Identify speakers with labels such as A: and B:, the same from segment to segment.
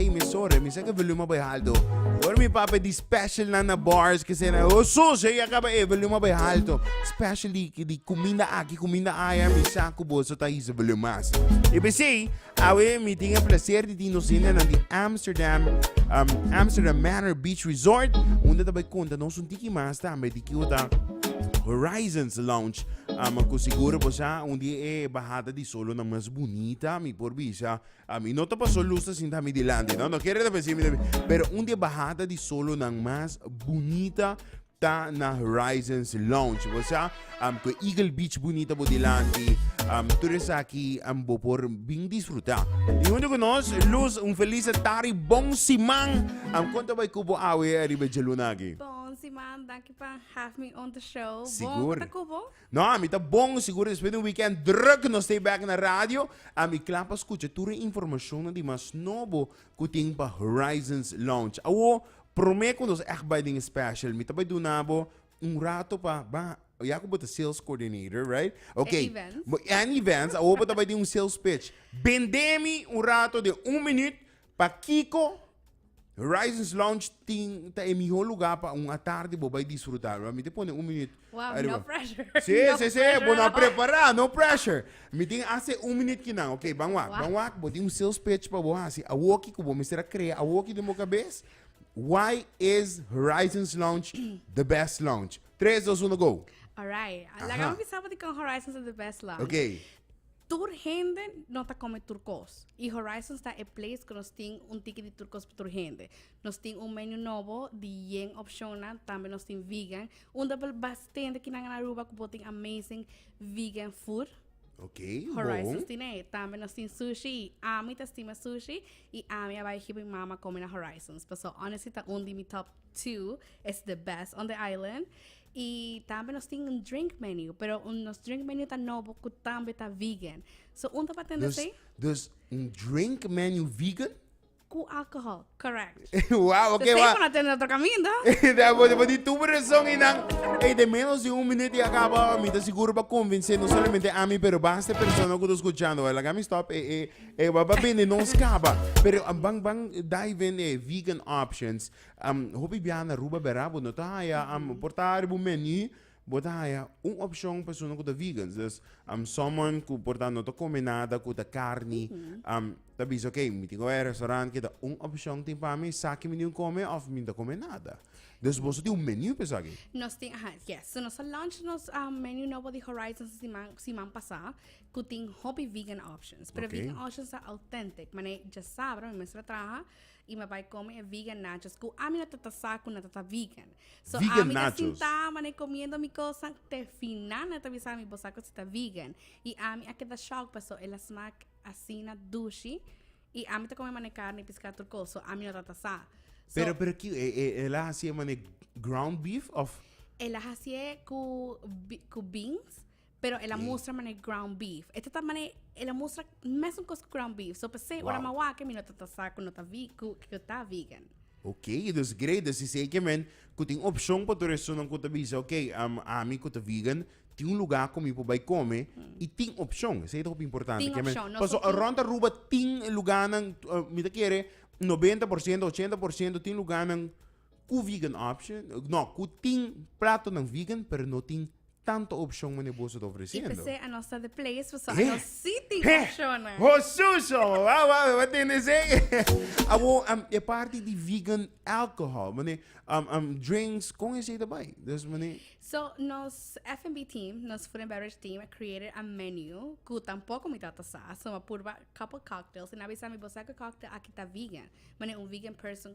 A: Ey mi sorry mi sa ke volume a bai halto Hoor mi papi di special nan na bars ke se na ho so se ya kaba e volume a bai halto special di di kuminda aki kuminda aya mi sa ku boso ta hisa volume mas i pesey awe mi tin e placer di tin nos hende nan di Amsterdam um Amsterdam Manor Beach Resort unda ta bai konta nos un tiki mas tambe di kiko ta Horizons Lounge um ku seguro bo sa un di e bahada di solonan mas bunita mi por bisa Ami no ta paso lus ta sinta mi dilanti no no kere ta p'e simi tambe pero un di e bahada di solonan mas bunita ta na Horizons Lounge bo sa am ku e Eagle Beach bunita bo dilanti am tur esaki am bo por bin disfruta i huntu ku nos lus un felis tari bon siman am kon ta bai ku bo awe ariba e djaluna aki. Bon siman danki pa have me on the show bon ku Sigur. ta ku bo? No, ami ta bon sigur despues di un weekend druk nos stay back na radio, ami kla pa skucha tur e informashonnan di mas nobo ku tin pa Horizons Lounge. Awo, promé ku nos ègt bai den e special, mi ta bai duna bo un rato pa ban, ya ku bo ta sales coordinator, right? Ok. En events. En events, awo bo ta bai di un sales pitch. Bendé mi un rato den un minuut Pakiko Horizons Lounge tin ta e mihó lugá pa un atardi bo bai disfrutá. Lo a miti pone un minüt Wow, ariba. no pressure. Sí, No sí, sí, pressure bo no a at all. prepará, no pressure. Mi tin hase un minüt ki nan. Oké, ban wak, Wak. ban wak. Bo tin un sales pitch pa bo hasi. Awoki ku bo mester a krea awoki den bo kabes. Why is Horizons Lounge the best lounge? Tres, dos, uno, go! Alright, laga Aha. mi bisa por di kon Horizons is the best lounge. Oké. Tur hende no ta come tur cos y Horizons ta e place cu nos tin un tiki di tur cos pa tur hende. Nos tin un menu nobo di yen opcionnan, tambe nos tin vegan. Unda bel bastente kinan na Aruba cu bo tin amazing vegan food. Ok, Horizons bon. tin e. Tambe nos tin sushi y ami ta stima sushi y ami a bai hipo mi mama come na Horizons. Paso honestly ta un di mi top two, es the best on the island. Y tambe nos tin un drink menu, pero un, nos drink menu ta nobo cu tambe ta vegan. So un ta pa tende Dus, esei dus un drink menu vegan? cu alcohol, correct. Wauw, oké, Esei wauw. pa na tende otro caminda. Da bo bo di tubo razón y nan. Ey, de menos di un minuut y acaba mi ta seguro pa convencé no solamente a mi pero basta persona cu ta escuchando. Wei, laga mi stop e e e wei pa bini nos caba. Pero a ban ban dive in e vegan options. Am, Hopi biaha na Aruba bera bo no ta haya, am, por ta ariba un menu bo ta haya un opcion persona cu ta vegans, dus am someone cu por ta no ta come nada cu ta carni, am, ta bisa ok mi tin cu bay restaurant keda un opcion tin pa mi sa ki mi tin cu come of mi no ta come nada. Dus boso tin un menu pa esaki. Nos tin, aha, yes. So nos a launch nos um, menu nobo di Horizons di siman, siman pasá, cu tin hopi vegan options. Pero Ok. vegan options ta authentic, mane dja sabra, mi mester a traha I me bai come e vegan nachos cu ami no ta ta sa cu nan ta ta vegan. So Vegan ami ta nachos. sinta manan comiendo mi cosan te final nan ta bisa ami bo sa cu si ta vegan. I ami a keda shock paso el a smaak asina dushi i ami ta come manan carne i piscado tur cos. So ami no ta ta sa. So Pero, pero ki, e, e, el a hasié mane ground beef of? el a hasié cu, bi- cu beans, Pero el a mustra mane ground beef. E tata mane, el a mustra mesmo cos ground beef. So pese, wow. ora ma wake, mi no tata sa ku no ta vi, ku, ku ta vegan. Ok, dus great, dus is eke men, ku tin option pa tur esunan ku ta bisa, ok, um, ami ku ta vegan, tin un lugar ku mi po bai kome, mm. i tin option, se hopi importante. Tin option, no Paso, around Aruba tin lugarnan, uh, mi ta kere, 90%, 80% tin lugarnan, Ku vegan option, no, ku tin platonan vegan pero no tin tanto opshon mane boso ta ofresiendo. I p'esei a nos ta de players paso a nos si tin opshonnan. Ho suso! Wou, wou, wou tin esei? Awor, um, e parti di vegan alcohol, mane, um, um, drinks, kon esei ta bai? Dus, mane. So, nos F&B team, nos food and beverage team a created a menu ku tampoko mi tata sa. So, mi a purba couple cocktails i nan a bisa mi, Bo sa ku cocktail aki ta vegan? Mane un vegan person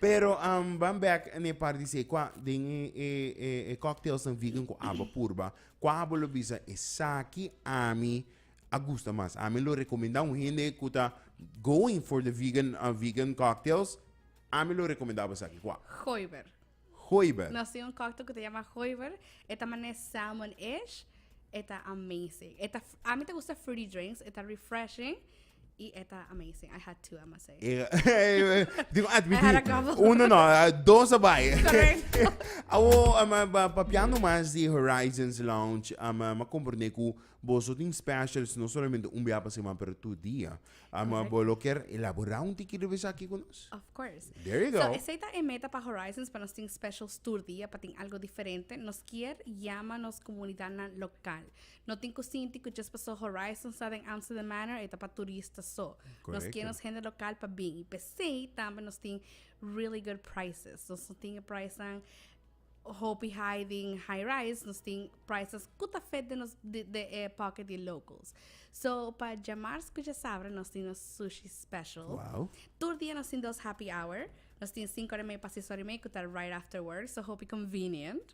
A: Pero am ban bek n'e par di sey kua den e e e e cocktailsnan vegan ku abo purba, kua abo lo bisa esaki ami a gusta mas. Ami lo rekomendá un hende ku ta going for the vegan a vegan cocktails, ami lo rekomendá bo esaki kua? Goiber. Goiber. Nos tin un cocktail ku ta yama goiber, e ta manera salmon-ish, e ta amazing. E ta, ami ta gusta fruity drinks, e ta refreshing. Y e ta amazing. I had two, I must say. Dico, I admití. had a couple. Uno no, ah, dos a bai. Correct. Awo, um, ah, ba- papiando mas di Horizons Lounge, um, ah, ma comprende cu boso tin specials no solamente un bia pa semana, pero tur dia. Um, Correcto. bo lo ker elabora un tiki riba esaki cu nos? Of course. There you So, go. ese ta e meta pa Horizons, pa nos tin special tour dia, pa tin algo diferente. Nos kier yama nos comunidadnan local. No tin cu sinti cu djes paso Horizon sta den Amsterdam Manor e ta pa turista so. Nos kie nos hende local pa bin. Y pesey tambe nos tin really good prices. Nos no tin e pricenan hopi high den high rise, nos tin prices cu ta fit den nos den e pocket di e locals. So pa dje marz cu dje sabra nos tin nos sushi special. Wow. Tur dia nos tin dos happy hour. Nos tin sinku ora y meey pa seis ora y meey cu ta right after work, so hopi convenient.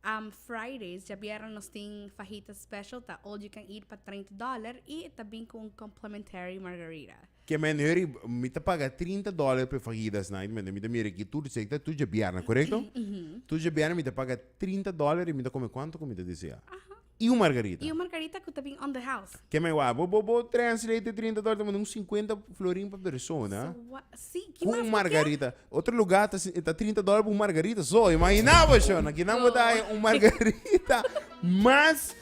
A: Um Fridays, djabièrnè nos tin fajita special, ta all you can eat pa treinta dòler i e ta bin ku un complimentary margarita. Ke men hurry, mi ta paga trinta dòler p'e fajitas nan, i mi ta mira aki tur di sekta, tur djabièrnè, korekto? Tur djabièrnè mi ta paga trinta dòler i mi ta kome kuantu ku mi ta desea. I un margarita. I un margarita ku ta bin on the house. Ke mai wak. Bo bo translate e trinta dòler ta manda un sinkuenta florin pa persona. So wa, si, ki mas lo ke? Ku un margarita. Otro lugá ta ta trinta dòler pa un margarita. So, imaginá bo shon. Aki nan bo ta haya un margarita mas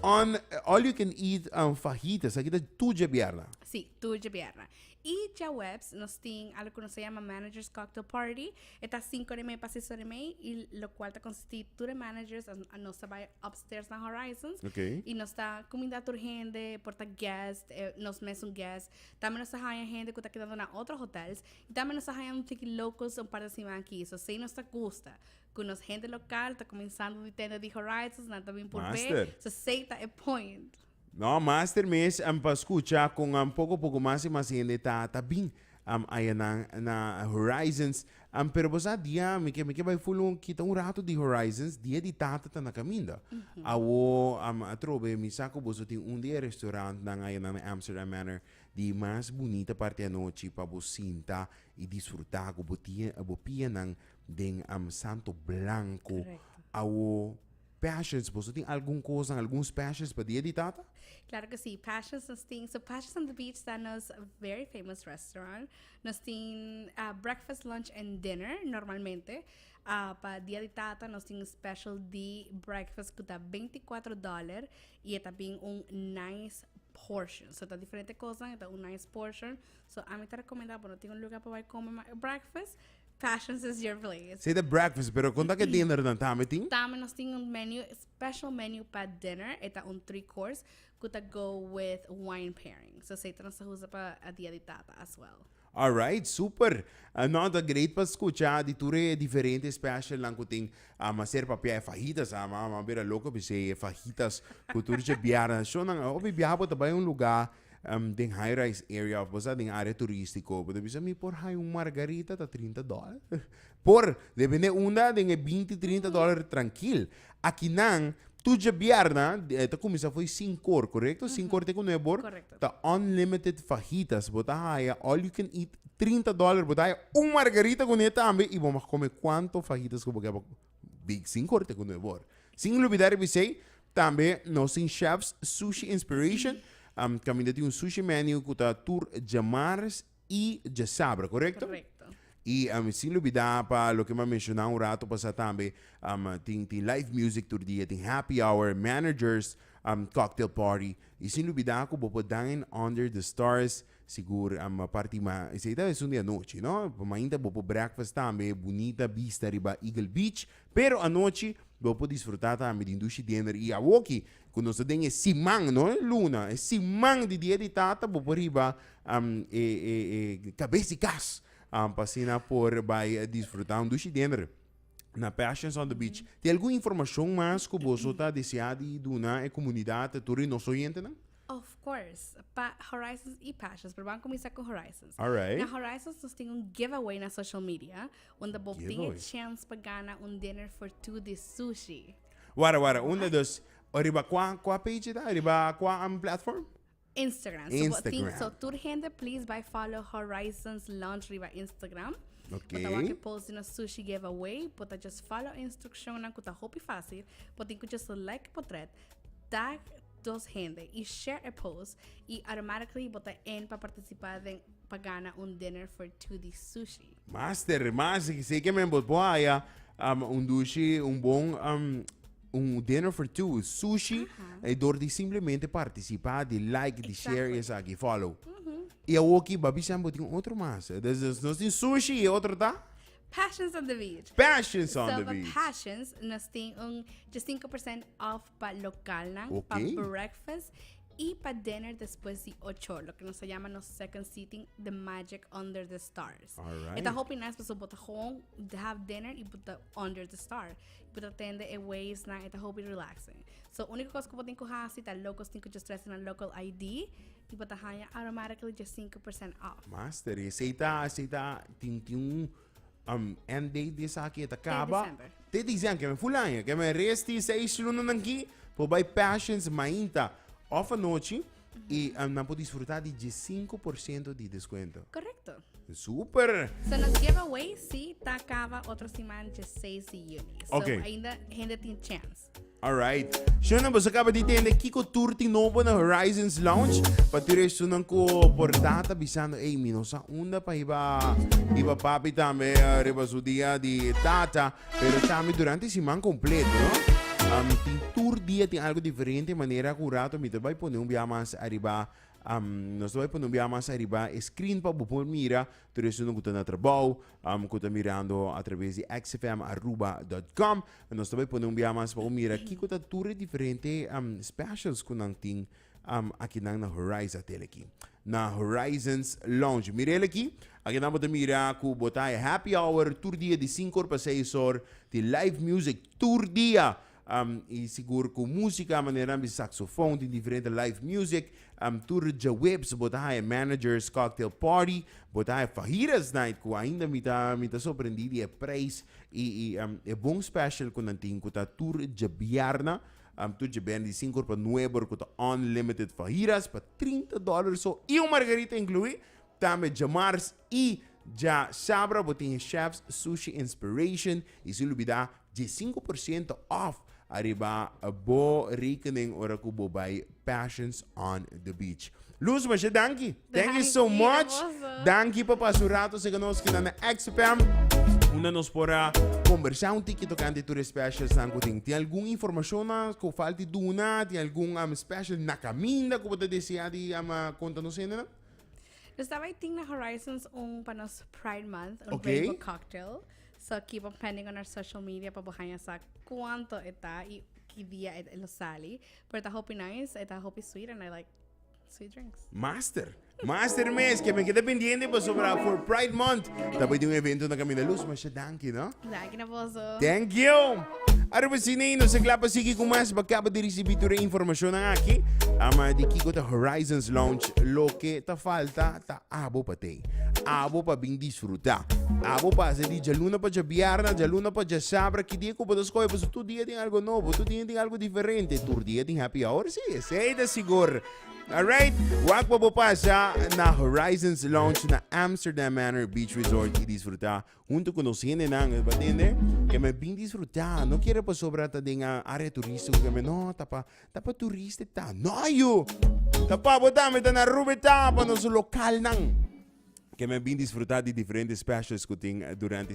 A: on all you can eat fajitas. Aki ta tur dje bierna. Si, tur dje bierna. E djaweps nos tin alo ku nos ta yama Managers Cocktail Party. E ta sinku ora i mei pa seis ora i mei i lokual ta konsistí tur e managers. Nos ta bai upstairs na Horizons i nos ta kuminda tur hende, por ta guèst, nos mesun guèst. Tambe nos ta haña hende ku ta kedando na otro hotèls i tambe nos ta haña un tiki locals un par di siman akí. So esei nos ta gusta ku nos hende lokal ta kuminsando di tenda di Horizons, nan ta bin por be. So esei ta e point. No, master mes am pa scucha con am poco poco mas y mas hende ta ta bin am aya nan na Horizons am pero bo sa dia mi ke mi ke bay full un kita un rato di Horizons dia di tata ta na caminda awo am atrobe mi sa cu boso tin un di e restaurant nan aya nan na Amsterdam Manor di mas bunita parti anochi pa bo sinta y disfruta cu bo tia bo pianan den am santo blanco awo. Passions, boso tin algun kosanan, algun specials pa dia di tata? Claro que sí, Passions nos tin, so Passions on the Beach ta nos very famous restaurant, nos tin ah, breakfast, lunch and dinner normalmente, ah, pa dia di tata nos tin un special di breakfast cu ta binti cuatro dollar y e ta bin un nice portion, so ta diferente kosanan y ta un nice portion, so ami ta recomenda bo no tin un lugar pa bay come breakfast, Passions is your place. Sey ta breakfast, pero kon ta ke dinner dan? Tambe tin? Tambe nos tin un menu, special menu pa dinner, e ta un three course ku ta go with wine pairing. So sey ta nos ta usa pa a dia di tata as well. Alright, super! Nau ta great pa skucha di tur e diferente specialnan ku tin. Ama ser papia e fajitas, ama bira loke bisei e fajitas ku tur dje biaha. Nan shonnan, hopi biaha bo ta bai un luga Den high-rise area of bo sa den area turistico bo ta bisa mi por haya un margarita ta trinta dollar por depende unda den e binti trinta dollar trankil aki nan tur djabièrna ta kuminsá fo'i sinku or korekto sinku or te ku nuebe or ta unlimited fajitas bo ta haya all you can eat trinta dollar bo ta haya un margarita kuné tambe i bo mag kome kuantu fajitas ku bo kè. Big sin corte cu nuevor. Sin lubida riba esey tambe nos tin Chefs Sushi Inspiration um caminda tin un sushi menu cu ta tur djamars y djasabra, correcto? Correcto. Y um sin lubida pa loke m'a menciona un rato pasa tambe um tin tin live music tur dia, tin happy hour, managers um cocktail party y sin lubida cu bo por dine under the stars Sigur ama parti ma esei ta esun di anochi no, mainta bo por breakfast tambe, bunita bista riba Eagle Beach, pero anochi bo por disfruta tambe di dushi dinner y awoki cu nos ta den e siman no e luna e siman di dia di tata bo por riba e e e cabes di cas pa asina por bay disfruta un dushi dinner na Passions on the beach. Tin algun informacion mas cu boso ta desea di duna e comunidad tur di nos oyentenan? Of course, pa Horizons y Passions, pero ban cuminsa cu Horizons. Alright. Na Horizons nos tin un giveaway na social media, unda bo tin e Giveaway. chance pa gana un dinner for two di sushi. Wara, wara, un de dos. Riba cua, cua page ta? Riba cua am, platform? Instagram. So, bo tin, Instagram. so tur hende please bai follow Horizons Lounge riba Instagram. Oké. Bo ta wak post di nos sushi giveaway, bo ta just follow e instruccionnan cu ta hopi facil, bo tin cu just like e potret, tag dos hende y share e post y automatically bo ta in pa participa den pa gana un dinner for two di sushi. Master, master, ki seke men bot por haya um, un dushi, un bon um, un dinner for two, sushi, e door di simplemente participa, di like, di share, Exactly. esaki, follow. Y awoki, ba bisa bo tin otro mas. Dus, dus nos tin sushi y otro ta Passions on the beach. passions on So the pa beach. passions nos tin un 5% off pa localnan, okay. pa breakfast y pa dinner después di ocho, lo que nos llama nos second seating, The Magic Under the Stars. Alright. Esta hopi nas paso bota gewoon have dinner y bota under the star. Bota tende e waves na esta hopi relaxing. So única cosa que botin coja si ta locos tin que just dress in a local ID y bota hanya automatically just 5% off. Master, y aceita, aceita, tin tin Um, en date di esaki e ta kaba. December. Te diciembre, men full año. Que men resti seis luna nan ki, por bay Passions mainta of anochi. Y um, nan por disfrutar di 15% di descuento. Correcto. Super! So nos giveaway sí ta acaba otro siman 16 de juni. So Ok. ainda gente tin chance. Alright. Shona, boso acaba di tende Kiko Tour tin nobo na Horizons Lounge. Pa tur estunan ku por data bisando, ey, mi no sa unda pa iba, iba papi tambe eh, riba su dia di tata, pero tambe durante siman completo, no? Um, tin tur dia tin algo diferente, manera ku rato mi ta bai pone un bia mas arriba, um, nos ta bai pone un bia mas arriba e screen pa bo por mira, Tur esnan ku ta na trabou, ku ta mirando a traves di xfmaruba.com, nos ta bai pone un bia mas pa bo mira kiko ta tur e diferente specials ku nan tin akinan na Horizon hotel aki. Na Horizons Lounge. Mira el aki, aki nan bo ta mira ku bo ta happy hour tur dia di sinku or pa seis or tin live music tur dia. Um, y sigur cu música manera ambi saxofón, tin diferente live music, um, tur djawebs, bo ta haya managers, cocktail party, bo ta haya fajitas night, cu ainda mi ta, mi ta sorprendí di e prijs y, y um, e bon special cu nan tin, cu ta tur djabierna, um, tur djabierna di cinco ora pa nuebe ora, cu ta unlimited fajitas pa trinta dólar so, y un margarita incluí, tambe djamars, Y dja sabra bo tin e Chefs Sushi Inspiration y sin lubida dje i sinku por siento off ariba bo rekening ora cu bo bay Passions on the Beach. Loes, masha danki! Thank you so much! Danki pa pasa un rato seca nos aki na na XFM. Unda nos por a combersa un tiki tocante tur e specials nan cu tin. Tin algun informacionnan cu falta di duna? Tin algun special na caminda cu bo ta desea di conta nos hende nan? Nos ta bai ting na Horizons un pa nos Pride Month, un okay. rainbow cocktail. So keep on pending on our social media pa bohanya sa cuánto eta y ki dia et lo sali. Pero ta hopi nice, eta hopi sweet and I like sweet drinks. Master. Master mes, que me queda pendiente pues, sobre for Pride Month. También de un evento na Camina Luz, mas dankie, no? Kina boso. Thank you. Arriba Sinein, nos é glad pa sigui ku mas. Ba kaba di risibí tur e informashon nan aki. Ama di kiko ta Horizons Lounge. Loke ta falta ta abo pa tei. Abo pa bin disfrutá. Abo pasa di djaluna pa djabièrna, djaluna pa djasabra. Ki dia ku bo ta skohe paso tur dia tin algu nobo, tur dia tin algu diferente. Tur dia tin happy hour si, esei ta sigur. Alright, wak pa bo pasa na Horizons Lounge na Amsterdam Manor Beach Resort i disfrutá Huntu ku nos hendenan bo tende ke men bin disfrutá no kere pasobra ta den área turístiko ke men no ta pa ta pa turista e ta no ayo ta pa bo tambe ta na Aruba e ta pa nos lokalnan ke men bin disfrutá di diferente specials ku tin durante